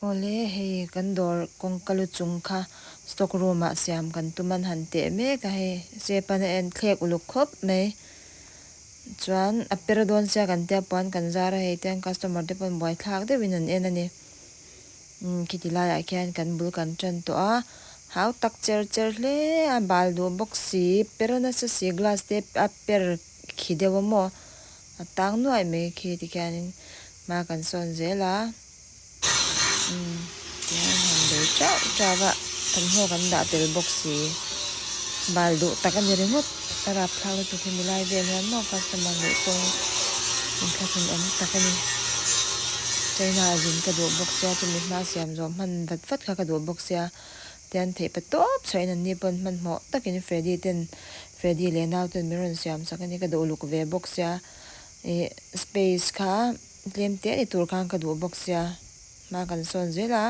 Awle, hei kan dawr kawngka lu chung kha stock room ah siam kan tum an han teh mek a, hei Sepan a en thlek uluk khawp mai. Chuan a per dawn sia kan tia puan kan zar a, hei tiang customer te pawn buai thlak deuh in an en a ni. Umm khiti lai ah khian kan bul kan tan tawh a, hau tak cher cher hle a, bal duh bawk si, per nasa si glass te a per Khi deuh a maw? A tang nuaih mai khi tikhianin hma kan sawn zel a, umm tia an han bei teuh teuh a, thawmhnaw kan dah tel bawk si. Bal duh tak a ni ringawt a rapthlak lutuk hi milai vel hian maw customer luh pawhin inthlasun awm tak a ni. China ah zin ka duh bawk sia, chumi hma siam zawh hman vat vat kha ka duh bawk sia, tian theih pe tawp chhahin an ni pawhin hmanhmawh takin Freddy ten Freddy leh naute min rawn siam sak a ni, ka duh luk ve bawk sia, ih space kha tlem teh ni tur khan ka duh bawk sia, hma kan sawn zel a,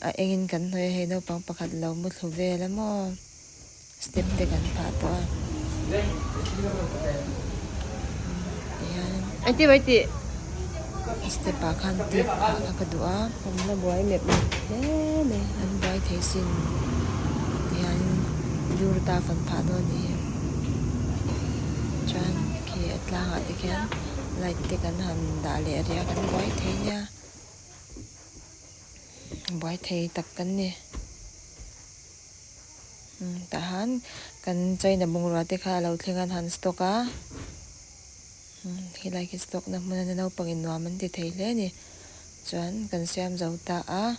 a engin kan hnawih a, hei naupang pakhat lo muthlu vel a maw, step te kan phah tawh a, tihian. Engtin mai tih? step ah khan tip phah kha ka duh a hmanna buai mep mep hle mai an buai thei sin tihian dur ata fan phah dawn nih hi chuan khi a tlang ah te khian light te kan han dah leh a ria kan buai thei nia buai thei tak kan ni umm tah han kan china bungrua te kha a lo thleng a han stock a. Helai khi stock na hmuna na naupang in nuam an ti thei hle a ni. Chuan kan siam zo ta a,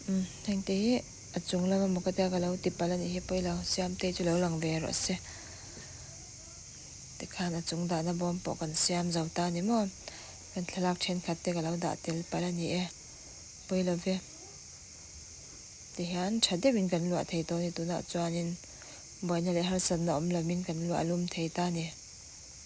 umm hengte hi a chung lama maw ka tia ka lo tipalh a nih hi pawh i lo siam te chu lo lang ve rawh se. Tikhan a chung dah na bawm pawh kan siam zo ta a ni maw? Kan thlalak thenkhat te ka lo dah tel palh a ni e. Pawi lo ve. Tihian tha deuh in kan luah thei tawh a ni tunah chuan in buaina leh harsatna awm lo min kan luah a lum thei ta a ni.